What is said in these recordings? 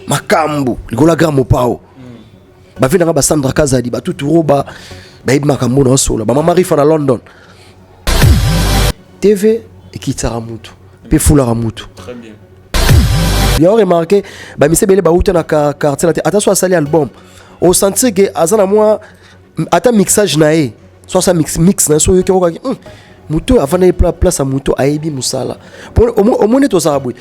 makambu likola grand mopao bavi nanga basandra kazadi batutu roba bayebi makambo na osola bamama rifa na london tv ekitisaka mutu mpe efulaka mutu bien remarke bamise ebele bauta na quartier na te ata so asali album osentir ke aza na mwa ata mixage na ye so asa mix mix na ye so oyoki okokaki hmm, moto oyo avandaki place ya moto ayebi mosala omoni tozala boye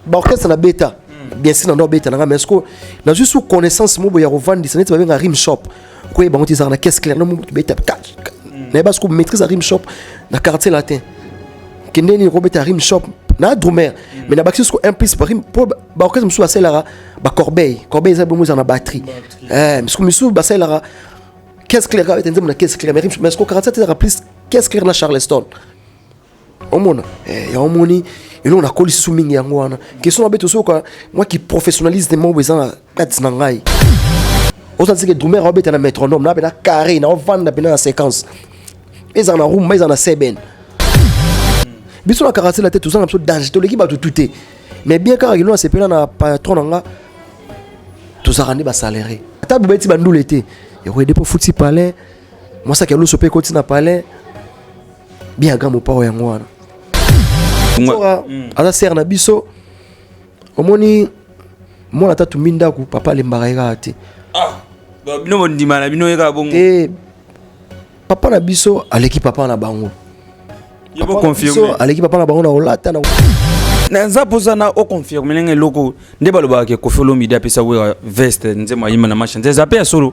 baorchestre na beta bien sûr nando abeta nanga mais siko nazwi su connaissance mobo ya kovandisa neti babenga rim shop koyeba yango ti ezalaka na caisse claire no mobo tobeta nayeba siko maîtrise ya rim shop na quartier latin kende nini kobeta rim shop na drumer mais na bakisi siko un plus rim mpo baorchestre mosusu basalelaka bacorbeille corbeille eza bongo ezala na batterie eh misuku misuku basalelaka caisse claire kaka ete nzembo na caisse claire mais siko 47 ezalaka plus caisse claire na charleston omona eh, ya omoni eloko nakoli susu mingi yango wana question mabe tosoyoka mwa kiprofessionnalisme moko eza na kati na ngai ozala seke drumer aobeta na métronome na pena carré na ovanda pena na séquence ezala na rumba ezala na seben biso na karasela te tozanga biso danger toleki bato tu te mais bien kaka kilo nasepela na patron na nga tozalaka nde basalere ata bobeti bandule te ekoyede mpo futi palais mwasaki ya luso mpe ekoti na palais bien aga mopao yango wana sora mm. aza sere na biso omoni mwana ata tumbi ndako papa alembaka ye kaka te ah, bino bondima na bino ye kaka bongo eh, papa na biso aleki papa na bango aleki papa na bango na olata na naza mposa na oconfirme ndenge eloko nde balobaka ke kofi olomide apesa wera veste nzembo ayima na masha nze eza mpe ya solo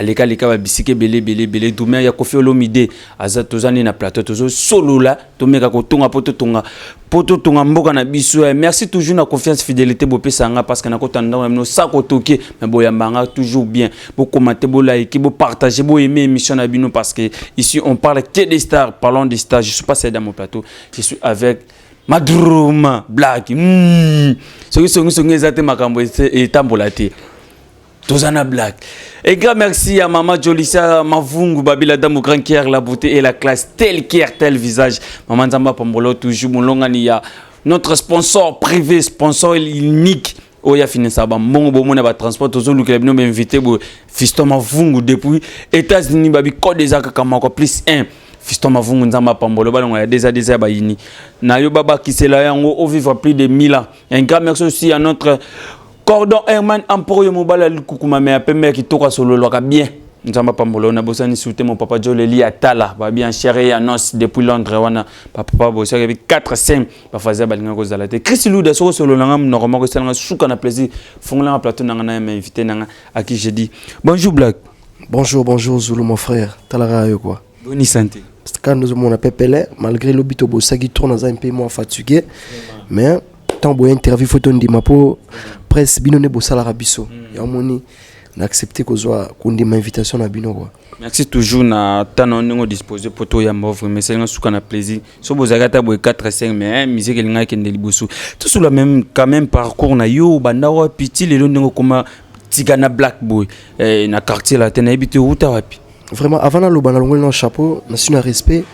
Aleka leka ba bisika ebele ebele ebele dumea ya kofi olomide aza toza nde na plateau tozo solola tomeka kotonga po totonga po totonga mboka na biso eh, merci toujours na confiance fidélité bopesa yanga parce que nakota ndako na bino sako toke me boyamba yanga toujours bien bokomate bolaike bopartage boyeme émission na bino parce que ici on parle que des stars parlons des stars je suis pas seul dans mon plateau je suis avec madruma black mm. soki songisongi eza te makambo etambola te toza na blague et grand merci à maman jolisa mavungu babila damu grand kier la beauté et la classe tel kier tel visage maman nzambe apambolo toujours molongani ya notre sponsor privé sponsor unique oyo ya finisa bambongo bomona batransport tozolukela bino bainvité boye fiston mavungu depuis états-unis babikode eza kaka moko plus 1 fiston mavungu nzambe apambolo balongo ya deza deza ya bayini na yo babakisela yango ovivre plus de 1000 ans un grand merci aussi à notre Cordon Herman Amporo yo mobali ya likukuma me ya pembe ya kitoko asololwaka bien. Nzamba pambolo na bosani sute mon papa Joe Leli Atala ba bien cher et annonce depuis Londres wana ba papa bosi ya 4 5 ba fazer balinga ko zala te Chris Luda soko solo nanga mnoko moko sala nga suka na plaisir fongola nga plateau nanga na ma invité nanga à qui j'ai dit bonjour Black bonjour bonjour Zulu mon frère talaka yo quoi boni sante kanda ozomona pepele malgré lobi tobosaki trop naza mpe mwa fatigue mais ntango boya interview fo tondima mpo presse bino nde bosalaka biso hmm. yango moni na accepte kozwa kondima invitation na bino kua merci toujours na temps na ndenge odispose mpo toyamba ovre mais esalinga suka na plaisir so bozalaki ata boye 4 5 mais musique elingaki kende liboso tosula même quand même parcours na yo obanda wapi ti lelo ndenge okoma tika na black boy eh, na quartier latin nayebi te outa wapi Vraiment, avant na loba na longoli na chapeau, na suis na respect,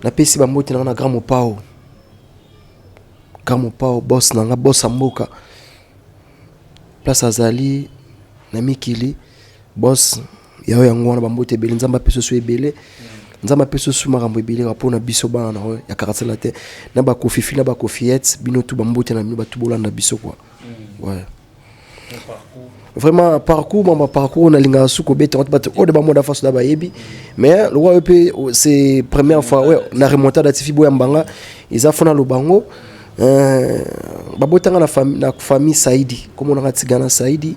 na pesi ba mbote na na grand mopao. Grand mopao boss na nga boss mboka. Place azali na mikili boss yayo yango wana ba mbote ebele nzamba peso so ebele. Nzamba peso so makambo ebele ka pona biso bana na ya karatsela te. Na ba kofifi na ba kofiettes bino tout ba mbote na bino ba tout bolanda biso quoi. Mm. Ouais. vraiment parcours mama parcours nalingaka su kobeta yango bato oyo de bamoda faso na bayebi mais lokola yo mpe oh, c'est première fois ouais, na remontada ya tifi boya mbanga eza fo naloba yango euh, babotanga na, fami, na famille saidi komonaka tigana saidi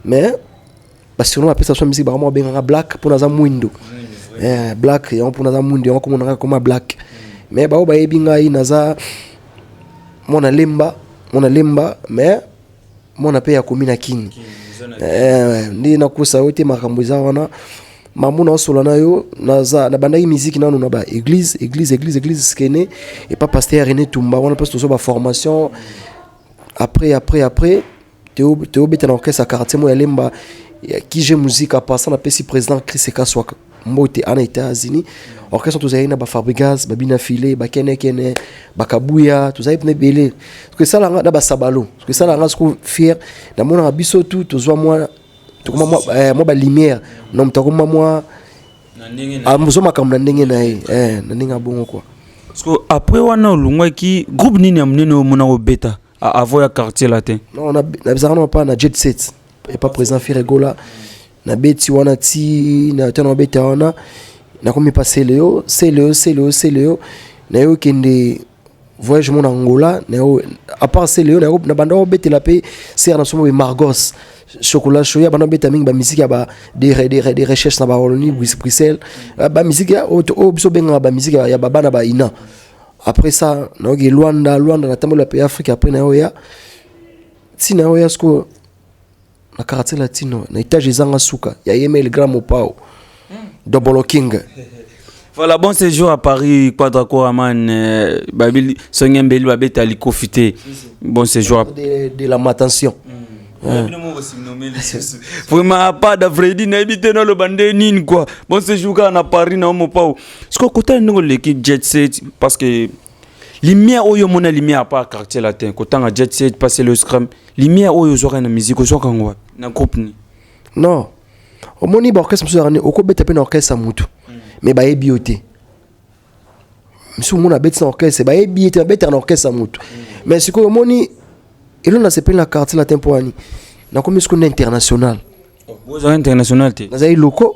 mais ba surnom apesa biso musique bakoma kobenga nga black mpo naza mwindo eh, black yango mpo naza mwindo yango komona nga koma black mais baoyo bayebi ngai naza mwana lemba mwana lemba mais mwana mpe ya komi na kini eh, nde nakosa yo te makambo eza wana mamu naosola na yo naza nabandaki miziki nanu na baeglise eglise eglise eglise skene epa paster rené tumba wana mpasi tozwa baformation après après après Teo, Teo beta na orchestre ya quartier mo ya Lemba ya Kije Musica passa na pesi président Chris Kaswa mbote ana États-Unis orchestre tozali na ba Fabrigas ba Bina File ba Kene Kene ba Kabuya tozali pne belé que ça langa na ba Sabalo que ça langa siko fier na mona biso tout tozwa mwa tokoma mwa eh, mwa ba lumière na mtakoma mwa amuzo ah, makambo na ndenge na ye eh na ndenge abongo quoi siko après wana olungaki groupe nini ya monene omona kobeta Ah, avo ya quartier là te. Non, na na bizarre non pas na jet set. Et pas présent Firegola. Na beti wana ti na tana beta wana. Na komi pas Celeo, Celeo, Celeo, Celeo. Na yo kende voyage mon Angola, na yo à part Celeo na yo na banda beta la pe ser na somo Margos. chocolat show ya bana beta mingi ba musique ya ba des des des recherches na ba Wallonie Bruxelles ba musique ya oyo biso benga ba musique ya ba bana ba ina après ça nayoki luanda luanda natambola mpe afrique après nayoya ntina oya sikoyo na quartier latino na etage ezanga suka ya yemel grand mopao hmm. double king voilà bon séjour à paris quadra koraman euh, babi songe mbeli babeta likofi te bon séjour de, de la matention hmm. hein. vraiment pas d'avredi nayebi te naloba nde nini kua bon séjour kaka na paris na omopao sikoyo kotala ndenge oleki jet set parce que lumière oyo omona lumière apart quartier latin kotanga jet set passe le scrum lumière oyo ozwaka na musique ozwaka yango wapi na groupe ni non omoni baorchestre mosusu yakani okobeta mpe na orchestre ya motu me bayebi yo te mosusu omoni abeti na orchestre bayebi ye te babetaka na orchestre ya motu me sikoyo omoni elo nasepeli na quartier latin mpo wani nakomi sikoyo na international bozala international te nazali loko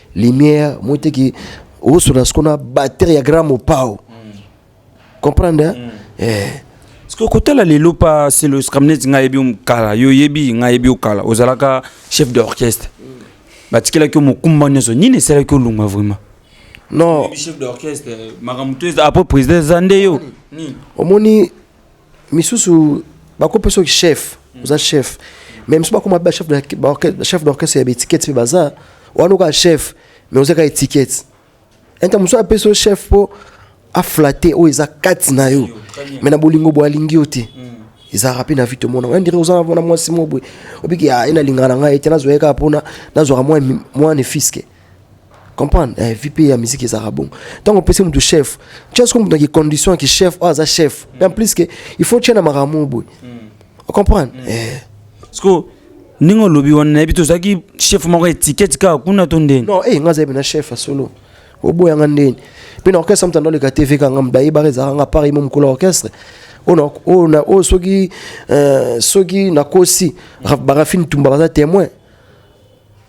lumière moteki osona siko na batterie ya grand mopao comprendre hein? mm. eh. sikoyo kotala lelo pa selo scamnet ngai yebi yo kala yo oyebi ngai yebi yo kala ozalaka chef d'orchestre mm. batikelaki yo mokumba nyonso nini esalaki olunga vraiment non chef d'orchestre makambo to eza apres président eza nde yo omoni misusu bakopesa oki chef oza chef mais misusu bakoma ba chef de chef d'orchestre ya baetiquette mpe baza wana oka chef mais oza ka etiquette enta mosusu apesa yo chef mpo aflate oyo eza kati na yo me na bolingo boye alingi yo te ezalaka mpe na vie tomona oya ndire oza na mwasi moko boye obiki ah, ye nalingaka na ngai te nazwa ye kaka mpona nazwaka mwa nefiske comprendre eh, vie mpe ya miziki ezalaka bongo ntango opesi motu chef tya soko motu na kicondition ya kichef oyo aza chef mpe en plus ke il faut tya na makambo boye ocomprendre mm. mm. eh. siko ndenge olobi wana nayebi te ozalaki chef moko etiketi kaka kuna to ndeni non e eh, nga azayebi na chef ya solo oboya nga ndeni mpe na orchestre moto andoleka tv kanga moto ayebaka ezalaka nga apart yemo mokolo ya orchestre oyo soki soki nakosi barafine tumba baza témoin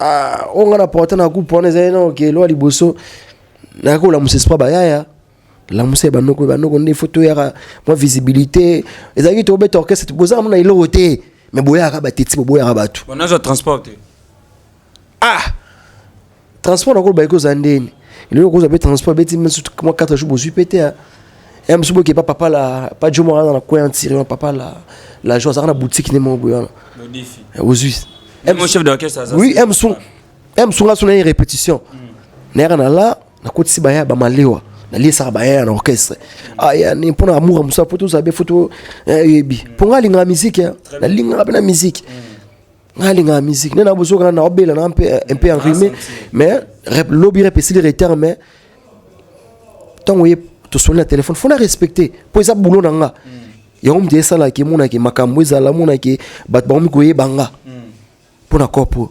Ah, oyo nga na porte na groupe wana ezali nano ke elwa liboso nayaki kolamusa espoir bayaya lamusa ya banoko banoko nde fo toyaka mwa visibilité ezalaki tobeta orchestre bozala mona eloko te me boyaka bateti boboyaka bato nazwa transport te ah transport nakoloba eki oza ndeni eloko kozwa mpe transport beti mwa 4 jours bozwi mpe te ya mosusu boke pa papa la pa jomo wana na coin tiré na papa la la joie azalaka na boutique ne moko boye wana ozwi oui m son m son asona ye répétition nayaka na la nakotisi baya bamalewa naliesaka baya na orchestre aya ni mpo na amour ya mosala mpo tozala be fo toyebi mpo ngai alingaka miziki nalingaka mpe na miziki nga linga musique nena bozo kana na obela na un peu un peu enrhumé mais lobby rep esili retard mais tango ye to soli na téléphone faut na respecter po eza boulot na nga hmm. yango mde esala ke mona ke makambo ezala mona ke bat ba mi koyeba nga hmm. po na corpo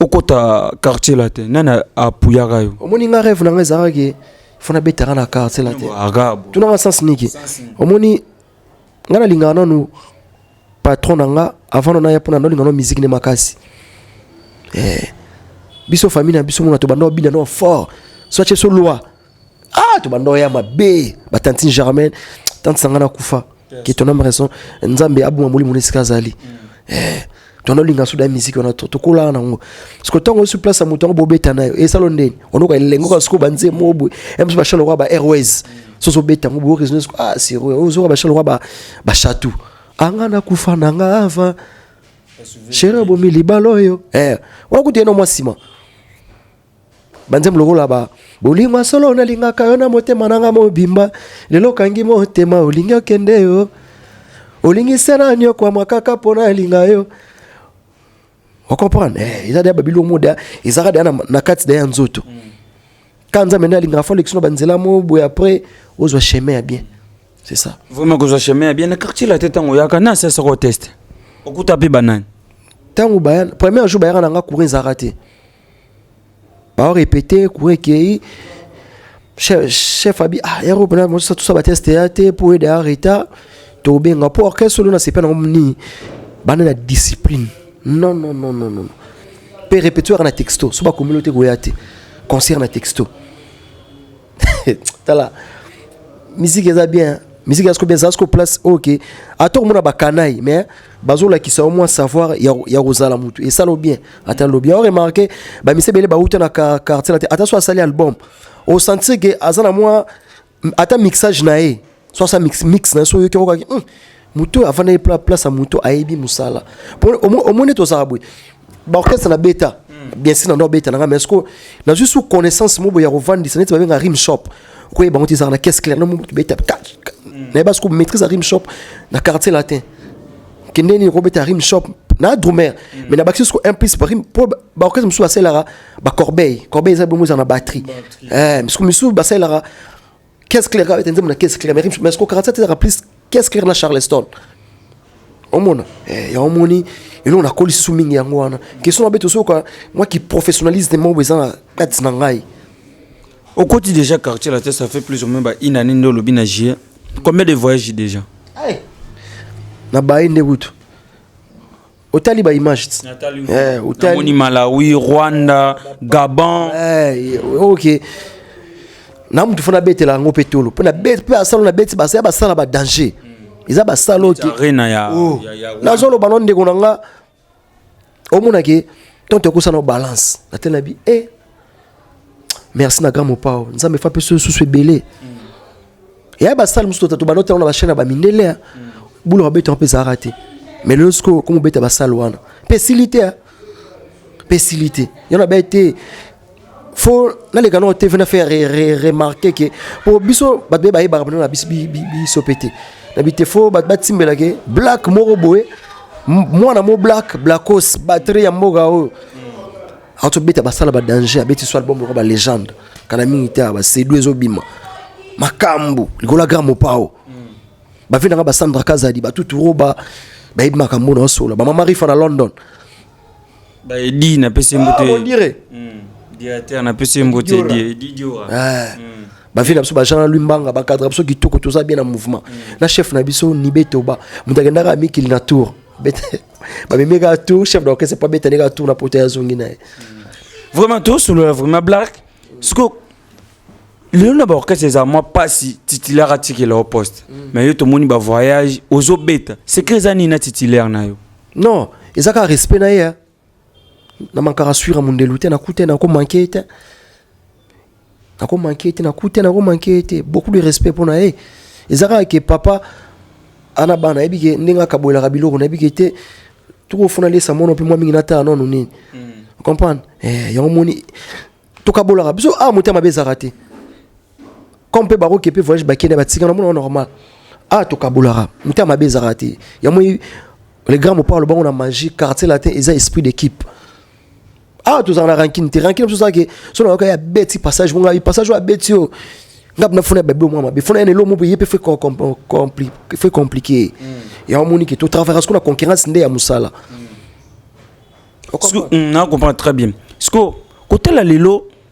okota quartier latin nani apuyaka yo omoni nga rêve na nga ezalaka ke fo nabetaka na quartier latin tunanga sens niki omoni nga nalingaka nanu patron na nga avant no naya mpona naolinga no miziki nde makasi eh. biso famille na biso mona tobanda obina no fort so atye so loi ah to bando ya mabe ba tantine Germaine tante sangana kufa que ton âme raison nzambe abuma molimo na esika azali mm. eh tono linga suda musique wana to tokola na ngo parce que tango sur place moto ngo bobeta na yo esalo ndeni ono ka lengo ka siko banze mobu em ba shalo ba airways mm. so so beta ngo bo raison ah c'est vrai ozo ba shalo ba ba chatu anga na kufa na nga ava chéri abomi libala oyo eh wana kutu ye no mwa nsima banzembo lokola ba bolingo solo nalingaka yo na motema na nga mobimba lelo okangi motema olingi okende yo olingi se na niokwama kaka mpo nalinga yo ocomprendre eh, eza deya babilo moda ezalaka deya na kati deya nzoto ka nzambe nde alingaka fo alekisi no banzela mo boye après ozwa chemin ya bien c'est ça vraiment kozwa chemin ya bien na quartier la te ntango oyaka na asiasaka oteste okuta mpe banani ntango première jour bayaka na nga courant ezalaka te Bao répéter, courant ekei. Chef, chef abi, ah, yaro pena mosa tout ça ba test ya te pour aider à retard. To benga pour orchestre solo na sepena ngomni. Bana na discipline. Non non non non non. Pe répétition na texto, so ba communauté goyate. Concert na texto. tala miziki eza bien miziki asko bien asko place ok ata okomona bakanayi mais bazolakisa au moins savoir ya kozala motu esala bien ata lobi ao remarke bamisi ebele bauta na quartier na te ata so asali album osentir ke aza na mwa ata mixage na ye so asa mix mix na so oyoki yango kaki hmm, moto oyo avandaki pla place ya moto ayebi mosala omoni ete ozala boye baorchestre na beta hmm. bien sûr na ndo abeta na ngai mais ceque nazwi su connaissance moko boye ya kovandisa neti babenga rim shop okoyeba yango te ezalaka na caisse claire nomo tobeta hmm. nayeba ceque maîtrise ya rim shop na quartier latin kende nini okobeta rim shop na drumer hmm. mais nabakisi ceque un plus barim mpo baorchestre mosusu basalelaka bacorbeille corbeille eza bongo ezala na batterie eh, ceque mosusu basalelaka Qu'est-ce clair avec nzembo na qu'est-ce clair mais mais ce que 47 ezaka plus qu'est-ce clair na Charleston omona eh, ya omoni eloko nakoli susu mingi yango wana question mabe tosoyoka mwa kiprofessionnalise te moko eza na kati na ngai okoti déjà quartier la te ça fait plus ou moins ba une année nde olobi na jie combien de voyage déjà na baye nde kutu otali ba images eh otali Malawi Rwanda Gabon eh OK na mutu fana betela yango pe tolo pe na bet pe asalo na beti basala basala ba danger eza basala oke arena ya oh. nazoloba no ndeko na nga omonake tonto ekosana balance natelabi e eh, merci na grand mopao nzambe fa mpe soyo susu ebele eya basale mosusu tatu banota yango na bachaine ya bamindele eh. bulo babeta yango mpe ezalaka te mais lelo sikoyo komobeta basale wana mpe esili te eh. mpe esili te yango na bai te fo naleka nao tv na faire remarke ke mpo biso bato be bayebaka bino na biso biso mpe te na bite fo bato batimbela ke black moko boye mwana mo black blackos batrie ya mboka oyo ato beta basala ba danger abeti so album lokola ba legende kana mingi te ba sedu ezobima makambu likola grand mopao ba vina ba Sandra Kazadi ba tutu roba ba yeb makambu na sola ba mama rifa na London ba edi na pese mbote ah, on dirait hmm. directeur na pese mbote di di diora ah. hmm. ba vina biso ba Jean Lumbanga ba cadre biso kitoko toza bien na mouvement hmm. na chef na biso ni betoba mutakendaka mikili na tour bete bamemi kaka tour chef d'orchestre po abetani kaka tour na poto ya zongi na ye vraiment tosolola vraiment black siko lelo na baorchestre eza mwa mpasi titulaire atikela o poste mm. mais yo tomoni bavoyage ozobeta secret eza nini na titulaire na yo non eza kaka respect na ye na mankaka suira mondelu te nakuta ye nakomanke ye te nako manquer te nakuti te nako manquer ye te beaucoup de respect mpo na ye eza kaka ke papa ana bana nayebi ke ndenge akabolelaka biloko nayebi ke te tokofuna lesa mono mpe mwa mingi natala nono nini mm. comprendre eh, yango moni tokabolaka biso awa ah, motema mabe ezalaka te comme mpe bakoki mpe voyage bakende batika na mona normal awa ah, tokabolaka motema mabe ezalaka te yango le grand mopao lobango na magie quartier latin eza esprit d'équipe awa tozala na rankine te rankine biso ozalaki so nayoka ya beti passage monga ye passage oyo abeti oyo nga bina fona ya babilo mwa mabe fona ya nelo mope ye mpe fe compliqué yango omoni ke totravaillaka siko na concurrence nde ya mosala na comprendre très bien siko kotala lelo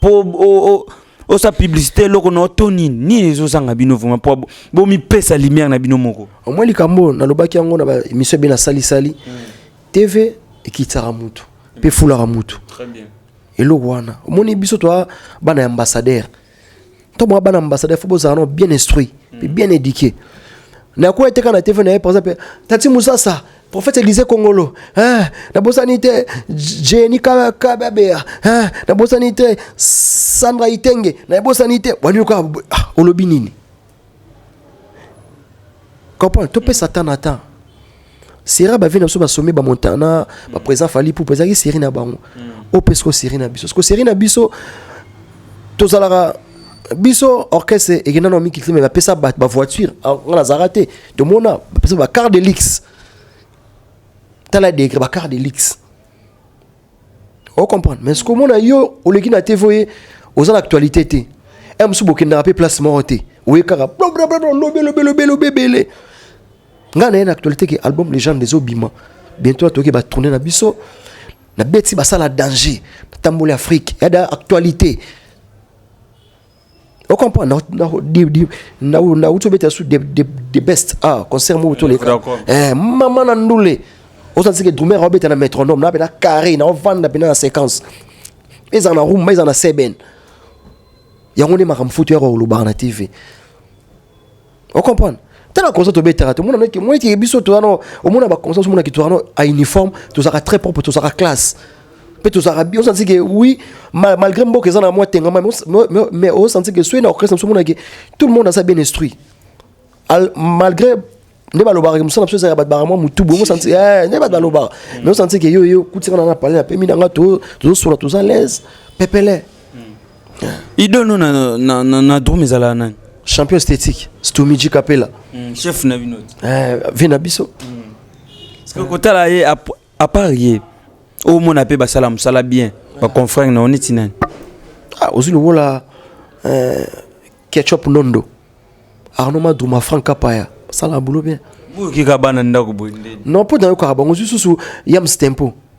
po osa publicité eloko na to nini nini ezozanga bino vraimen po bomipesa lumière na bino moko omwa likambo oyo nalobaki yango na baémission ebe na salisali mm. tv ekitisaka mutu mpe efulaka mutu eloko wana omoni biso toa bana ya ambassadeur to mwa bana ambassadeur fo bozala no bien instruit mpe bien éduqué nakoya te kaka na tv na ye par exemple tati musasa prophète elise kongolo hein, nabosani te jeni kababeya hein, nabosani te sandra itenge nabosani te wani oka ah, olobi nini comprendre topesa temps na temps sera bavi na biso basombi bamontana baprésident fali pupa ezalaki seri na bango mm. ope siko seri na biso siko seri na biso tozalaka biso orchestre ekenda na mikilite me bapesa bato bavoiture ah, nga nazalaka te tomona bapesa bacart de lix tala degre bacart de lix ocomprendre mais sikomona yo oleki na tv oye oza na actualité te eh, mosusu bokendaka mpe place moko te oye kaka lobelobelobelobelobelobeele nga na ye na actualité ke album legende ezobima bientôt atoki batourne na biso na beti basala danger natamboli afrique yada actualité ocomprendre nauti obeta su the best ah concert moko toleka eh, mama na ndule ozalisi ke drumer aobeta na métronome na pena carré naovanda pena na séquence ezala na rumba ezala na seben yango nde makambo futu yaka olobaka na tv o comprendre tala concert tobetaka tomona noki moi ti biso toza no omona ba concert omona ki toza no a uniforme tozaka très propre tozaka classe mpe tozalaka bi osanti ke oui malgré mboka eza na mwa tengama mais osanti ke soki na orchestre mosu omonake tout le monde aza bien instruit malgré nde balobaka ke mosala biso ezalaka bato bakamwa motu bongo santi eh, nde bato balobaka mais osanti ke yo yo kutika na na pale na pemi na nga tozosola toza laise pepele idono na, na, na, na drum ezalaka nani champion esthétique stumiji kapela mm, chef na bino eh, vie na biso mm. kotala ye apart ye omona mpe basala mosala bien baconfrere na yo neti nani ah, ozwi lokola eh, ketchup nondo arno maduma frank kapaya basala bulo bien boyokika bana ndako boye non mpo nayokaka bango ozwi susu yams tempo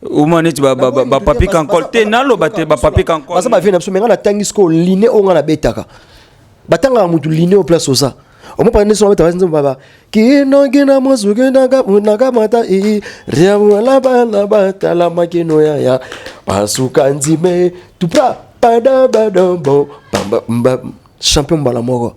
Uma neti ba ba ba, ba papi kankol te naloba te ba papi kankol. Baza ba vie na biso menga na tangi siko line o nga na betaka. Batanga mutu line o place oza. Omo pa ndeso ba tabazi nzemba ba. Kino kina mwasu kina ka na ka mata i. Ria wala ba na ba tala makino ya ya. Pasuka nzime tupra pada badambo. Bamba mba champion mbala moko.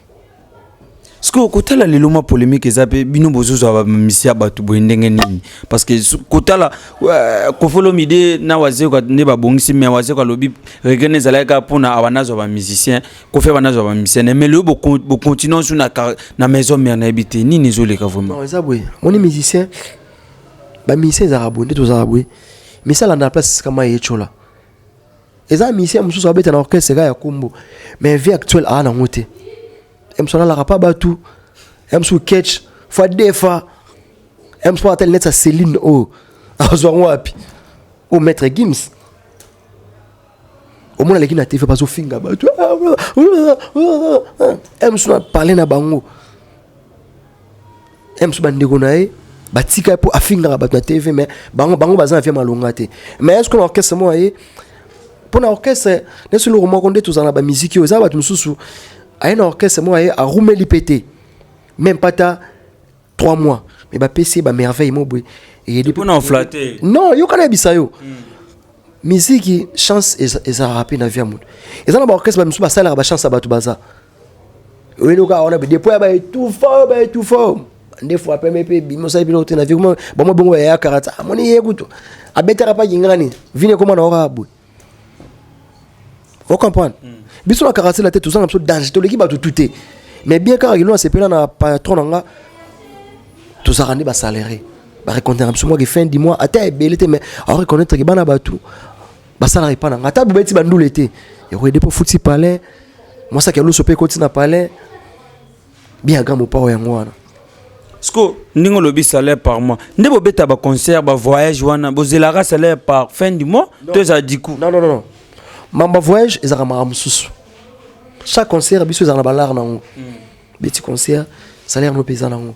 sikoyo kotala lelo mwa polemique eza mpe bino bozozwa bamisi ya bato boye ndenge nini parce que kotala euh, kofolomide na wazeko nde babongisi mais wazeko alobi regene ezalaki kaka mpona awa nazwa bamusicien kofi awa nazwa bamusicien ne mais leyo bocontinue su na maison mare nayebi te nini ezoleka vraiment eza boye moni musicien bamusicien ezalaka boye nde tozalaka boye misala na place kama ye tyola eza musicien mosusu abeta na orchestre eka ya kombo mais vie actuelle aa nango te emso alalaka pa batu emso ketch fa defa emso ata linete ya celine oyo azwa yango wapi o maître gims omona aleki na tv bazofinga bato emso na parle na bango ye mosusu bandeko na ye batika ye mpo afingaka bato na tv mais bango bango baza na vie malonga te mais eske na orchestre moko ye mpo na orchestre nesi eloko moko nde tozala na bamiziki oyo eza bato mosusu aye na orchestre moko ye arumeli mpe te meme pas ta 3 mois mais bapesi ye bamerveille mo boye eyeli mpo na oflate non yoka nayebisa yo mm. miziki chance ezalaka mpe na vie ya moto eza na baorchestre bamosusu basalaka bachance ya bato baza oyeli okaa wana depo ya baetufa oyo baetufa oyo nde fwa peme mpe bimi osali biloko te na vie kuma bango bongo yayakaka ta amoni ye kutu abetaka mpa kingana nini vini ekoma na okaa boye ocomprendre hmm. biso na karatela te tozanga biso danger toleki bato tu te mais bien kaka kilo nasepela na patron na nga tozalaka nde basalere bareconnaître biso mwaki fin du mois ata ebele te mais aoreconnaître ke bana bato basalaka epa na nga ata bobeti bandule te ekoyede mpo futi palais mwasaki ya loso mpe ekoti na palais biaga mopao yango wana siko ndenge olobi salaire par mois nde bobeta baconcert bavoyage wana bozelaka salaire par fin du mois to ezala diku non non non mamba voyage ezalaka makambo mosusu chaque concert biso ezalaka na balare na yango hmm. beti concert salaire no mpe eza na yango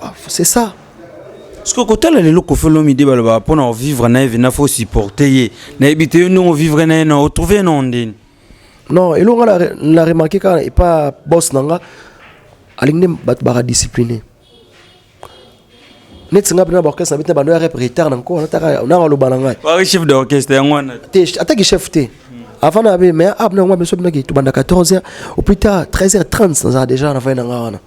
Bah, c'est ça. Parce que kotala lelo Koffi Olomide baloba mpo na vivre na ye vena faut supporter ye nayebi te yo ndenge ovivre na ye na otrouve ye na ondeni non eloko nga na re- na remarke kaka epa boss na nga alingi nde bato baka discipline neti nga mpe na baorchestre na bete bando ya rep retard na nko nataka nanga aloba na ngai wari chef d'orchestre yango wana te te ataki chef te avant na be mais ab na yango biso binaki tobanda 14 heures au plus tard 13 heures 30 naza déjà na fai na nga wana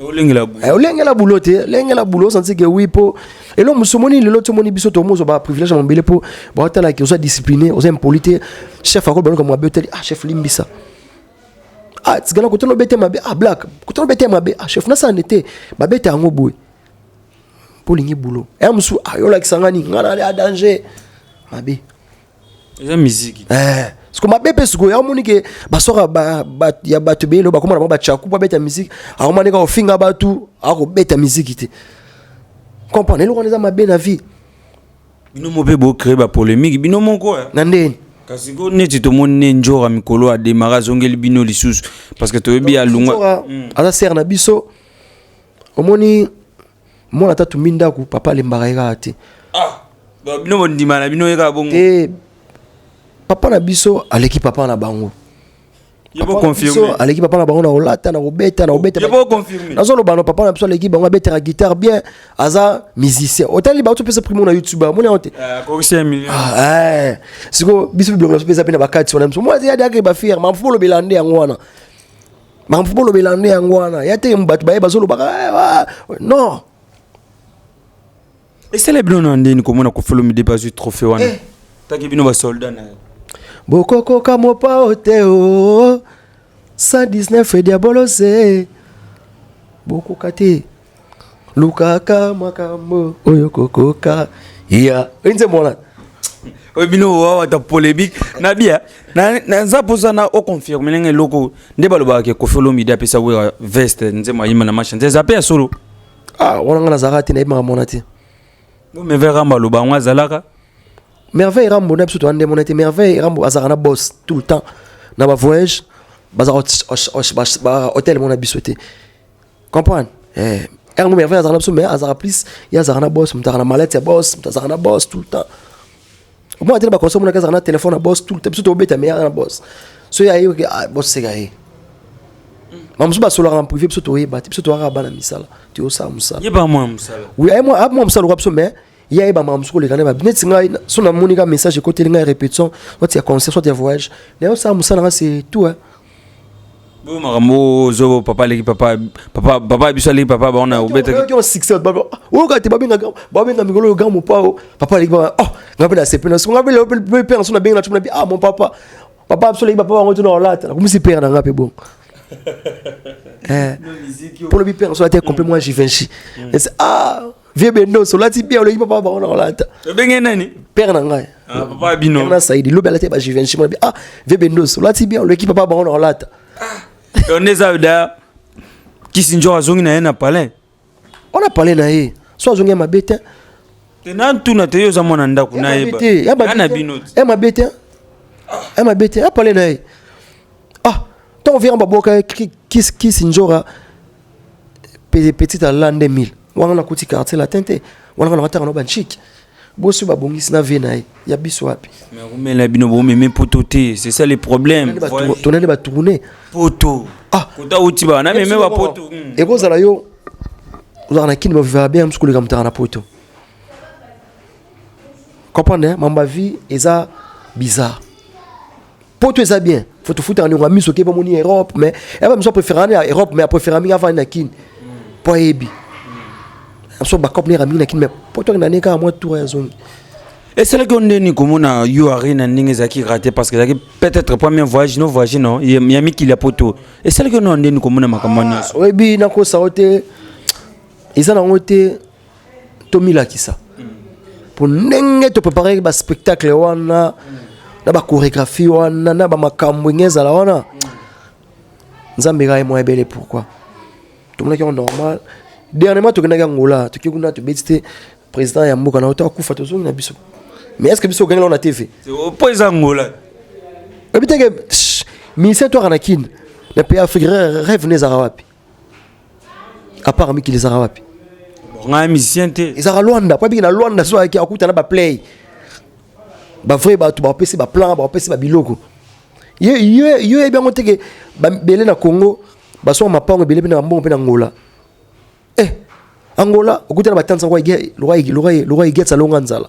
olengela boulot eh, olengela boulot te lengela boulot osanti ke oui po eloko mosusu omoni lelo ti omoni biso tokomi ozwa baprivilège ya mobele po baotala ke oza discipliné oza impoli te chef akoloba noka mabe otali ah chef limbisa ah tikala kotala obete mabe ah black kotala obete mabe ah chef nasane te babete yango boye mpo olingi boulot ya eh, mosusu ayolakisa ah, ngani ngai nali a danger mabe eza miziki eh. siko mabe mpe sikoyo aomoni ke basoka ba, ba, ya bato beyelo bakoma na bango bachaku mpo abeta miziki akomani kaka kofinga bato akobeta miziki te comprendre eloko wana eza mabe na vie bino mo mpe bocree bapolemiki bino moko eh. na ndeni kasi ko neti tomoni ne njora mikolo ademara azongeli bino lisusu parce que toyebi alunga hmm. aza sere na biso omoni mwana ata tumbi ndako papa alembaka ye kaka te ah, bino bondima na bino ye kaka bongo te papa na biso aleki papa na bango aleki papa na bango na kolata na kobeta na kobetanazoloba na papa na biso aleki bango abetaka guitare bien aza musicien otali bato mpesa primo na youtube amoni yango te eh, ah, eh. siko biso bilongo na biso mpeza mpe na bakati wana biso mwana yadake bafiere mafuolobela nde yango wana makambo bolobela nde yango wana ya te bato baye bazolobaka eh, ah, non esala bino na ndeni komona kofolomide bazwi trophée wana eh. taki bino basoldat na bokokoka mopao te o 119 ediabolose bokoka te lukaka makambo oyo kokoka ya oyi nzembo wana oyo bino wawata polémique na bia naza mposa na oconfirme ndenge eloko nde balobaka ke kofi olomide apesa wera veste nzembo ayima na machanse eza mpe ya solo ah, wana nga nazalaka te nayebaka mona te merveille rambo aloba yango azalaka merveille rambo na biso toya nde mona te merveille rambo azalaka na boss tout le temps na bavoyage bazalaka hotel mona biso te comprendre eh car nous merveille azana biso mais azara plus ya azara na boss mutaka na malette ya boss mutazaka na boss tout le temps moi tena ba conseil mona kazaka na téléphone na boss tout le temps biso to beta mais ya na boss so ya yo ah, boss seka ye ma musu basolaka na privé biso toyeba te biso toyaka bana misala toyosala mosala yeba mwa mosala oui aye mwa mwa mosala oka biso mais ye ayeba mwa musu koleka na ba neti ngai so namoni ka message ekoteli ngai répétition soit ya concert soit ya voyage naye osala mosala nga c'est tout hein Boyo makambo ozo papa leki papa papa papa biso leki papa ba on a obeta ki on succès ba o ka te ba benga ba benga mikolo ga mo pa o papa leki papa oh ngabe la sepe na so ngabe la pe pe so na benga na tuna bi ah mon papa papa biso leki papa ba ngoto na olata na kumisi père na ngape bon eh pour le bi père so la te complètement Givenchy ah Vieux Bendos, olati bien, oleki papa bango na kolata. Obenge nani? Père na ngai. Ah, papa bino. Père na Saidi, lobi alati ba Givenchy, moi ah, vieux Bendos, olati bien, oleki papa bango na kolata. Donc les avda Kissinger azongi na ye na palais. On a parlé na ye. So azongi ya mabe te. Te na ntuna te yo oza mwana ndako na ye ba. Ya na bino. Ya mabe te. Ya mabe te, a parlé na ye. Ah, tant on vient en baboka Kissinger Pe- petite en l'an 2000 wana na kuti quartier latin te wana kana batanga na ba chic bosi ba bongisi na vie na ye ya biso wapi Mais rumela bino bo meme poto te, c'est ça le problème. Ba tour- tonali ba tourner Poto. Ah. Kota uti ba na meme ba poto. Mm. ekozala yo ozalaka na kini bavivaka bien mosu koleka motaka na poto comprendre mambo ya vie eza bizarre poto eza bien faut tofutaka ndeko ya miso okebi omoni europe mais yaba miso apréféraka na europe mais apréféra mingi avandi na kine mpo ayebi biso bacope nera mingi na kine mais poto akenda nde kaka mwa tour ya zongi esalaki yo ndeni komona yo arena ndenge ezalaki rate parce que ezalaki peut-être premier voyage no voyage no ya mikili ya poto esalaki yo nao ndeni komona makambo wana nyonso oyebi nakosa yo te eza nango te tomilakisa mpo ndenge topreparaki baspectacle wana na bachorégraphie wana na bamakambo enge ezala wana nzambe kaka ye mwa ebele pourquoi tomonaki yango normal dernièrement tokendaki angola toki kuna tobeti te président ya mboka na oto akufa tozongi na biso mais est ce que biso okengela na tv mpo eza angola oyebi teke ministère toaka na kine na pays afrique rêve ne ezaka wapi à part miki les wapi ngai musicien te ezaka Luanda po biki na Luanda so ayaki akuta na ba play ba vrai bato ba pesi ba plan ba pesi ba biloko ye ye ye yebi yango teke bele na Congo basonga mapango ebele mpe na bambongo mpe na Angola eh Angola okuta na batanza lokola igetsa longa nzala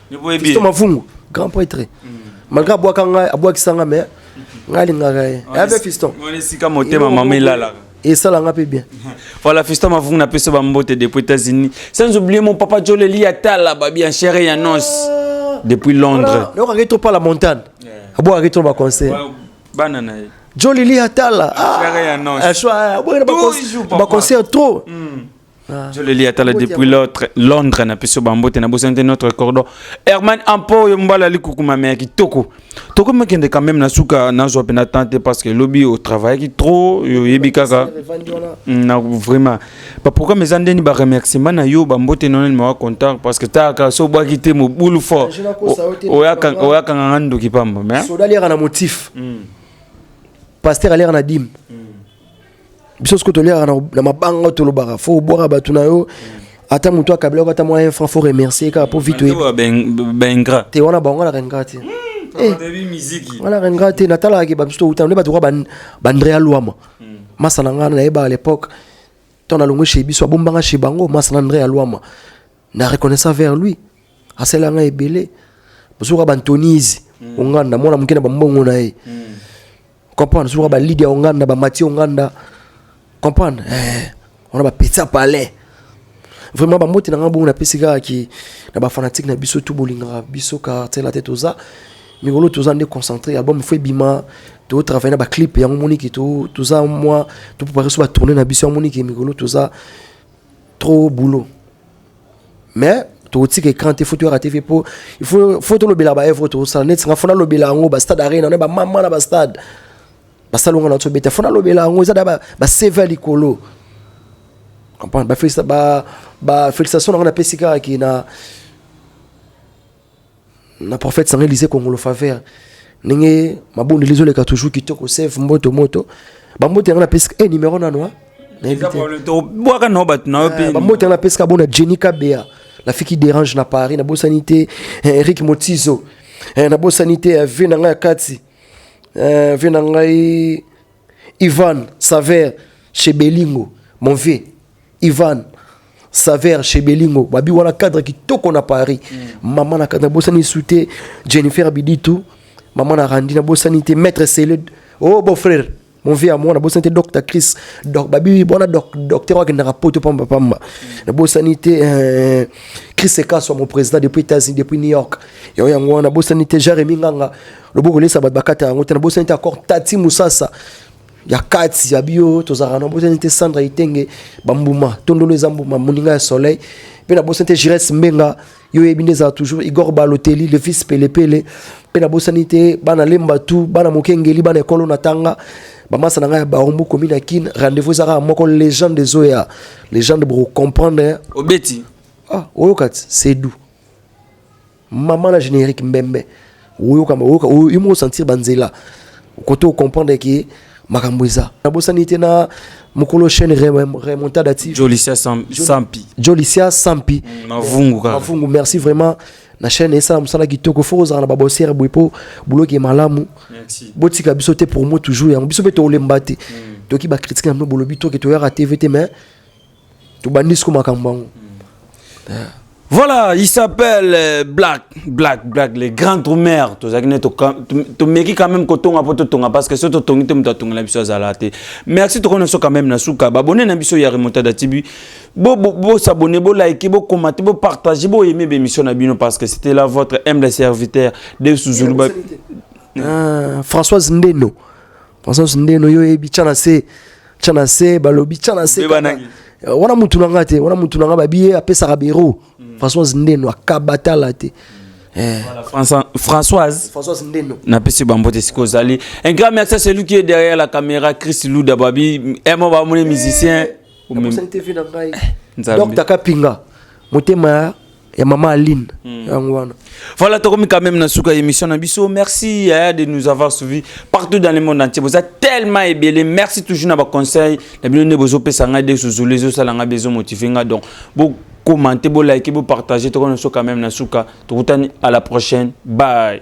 Fiston Mavungu, grand prêtre. Malgré abwaka ngai, abwakisa ngai mais ngai alingaka ye. Ave Fiston. Wana esika motema mama elalaka. esala nga mpe bien voilà fiston mavungu na peso bambote depuis états-unis sans oublier mon papa joleli ya tala babi en chere ya nos ah. depuis londres okaki trop pas la montagne abwakaki trop baconseil bana na ye joleli ya tala ah. ah, baconseil trop hmm. Ah. joleli atala depuis l'autre londres na biso bambote na bosani te notre cordon herman ampo oyo mobali ali kokumama ya kitoko tokomi kende quand même na suka nazwa mpe na temps te parce que lobi otravaillaki trop oyebi kaka mm, na vraiment baprogramme eza ndeni baremerciement na yo bambote nonani mawa contact parce que taka so obwaki te mobulu fort oyakanga nga ndoki pamba mais soda aliaka na motif mm. paster aliaka na dime mm. biso soko toliaka na mabanga tolobaka fo obwaka bato na yo ata moto akabilaka ata mwa infra fo remercier kaka mpo vite baingra te wana bango alaka ingra te wana alaka ingra te natalaka ke bamisu towutana nde bato kwa bandrea lwama hmm. masa na ngai nayebaka l'époque ntango nalongwe chez biso abombanga chez bango masa na andrea lwama na reconnaissant vers lui asala ngai ebele bozoka bantonise hmm. onganda mwana moke na bambongo na ye hmm. comprendre soki ba Lydia Onganda ba Mathieu Onganda comprendre eh on a ba pizza palais vraiment ba moti na nga bongo na pesi kaka ki na ba fanatique na biso tout bolingaka biso quartier la tête oza mikolo toza nde concentré album fo ebima totravaille na baclip yango moniki toza mwa topropare so batourne na biso yango moniki mikolo toza trop boulot mais tokotika écran te fo toyaka te fe po fo tolobela baevre tokosala neti nga fo nalobela yango bastade arena na bamama na bastade basala onga na biso beta fo nalobela yango eza da baseve ya likolo comprendre bafélicitation na nga napesi kaka ke na na prophète sangai lise kongolo faveur ndenge mabondeli ezoleka toujours kitoko save mboto moto bambote yango napesi e eh, numero nano bwaka nao bato nao mpe eh, bambote yango napesi ka bona jenny kabea nafiki dérange na paris nabosani te eh, eric motizo nabosani te vie na ngai ya kati vie na ngai ivan saver chez belingo mon vieux Ivan Saver chez Belingo babi wana cadre kitoko na Paris mm. maman na cadre bosani soute Jennifer Biditu maman na Randi na bosani te maître Célé oh beau frère mon vieux à moi na bosani te docteur Chris donc babi bona doc docteur wa kendaka poto pamba pamba na bosani te euh, Chris Ekaso mon président depuis États-Unis depuis New York yo yango wana bosani te Jeremy Nganga loboko lesa bat bakata yango te na bosani te encore Tati Musasa ya kati ya bio tozalaka na bosani te sandra itenge bambuma tondolo eza mbuma moninga ya soleil mpe na bosani te gires mbenga yo oyebi nde ezala toujours igor baloteli le fils pelepele mpe nabosani te bana lemba tu bana mokengeli bana ekolo na tanga bamasa na ngai ya barumbu komi na kin rendez-vous eza kaka moko legende ezoya legende boko comprendre obeti ah, oyoka ti sedu Maman na générique mbembe. Oyoka oyoka oyo sentir banzela. Kote o comprendre que makambo eza. Na bosani te na mukolo chaîne remontada TV. Jolicia Sampi. Jolicia Sampi. Mm, Mavungu kaka. Mavungu merci vraiment. na chaîne esala mosala kitoko fo kozala na babosere boye mpo buloki malamu botika biso te promo toujours yango biso mpe tolemba te mm. toki bakritike na bino bolobi toke toyaka tv te mais tobandi siko makambo yango yeah. Voilà, il s'appelle euh, Black, Black, Black, les grands droumers. Tu as dit, tu meki quand même koton à poto tonga parce que ce to tongi tum tonga la biso zalate. Merci tu connais ce quand même na souka. Abonné na biso ya remonta da tibi. Bo bo bo s'abonner, bo liker, bo commenter, bo partager, bo aimer l'émission na bino parce que c'était là votre humble serviteur de Souzoulou. Ah, Françoise Ndeno. Constance Ndelo yo oyebi tya na se tya na se balobi tya na se Mbeba kaka. nangi. Eh, wana mutu na nga te wana mutu na nga babi ye apesaka bero Françoise Ndeno akabatala te Eh, Voilà, François- Françoise Françoise Ndeno napesi bango te sikoyo ozali un grand merci à celui qui est derrière la caméra chris luda babi emo bamoni musicien Nakosani te vie na ngai Nzambe. Docteur Kapinga motema ya ya mama aline hmm. yango wana voilà tokomi quand même na suka ya émission na biso merci yaya de nous avoir suivi partout dans le monde entier boza tellement ebele merci toujours na baconseil na bino nde bozopesa ngai de suzulu ezosala ngai bezomotive ngai donc bo commenter bo liker bo partager tokona so quand même na suka tokutani à la prochaine bye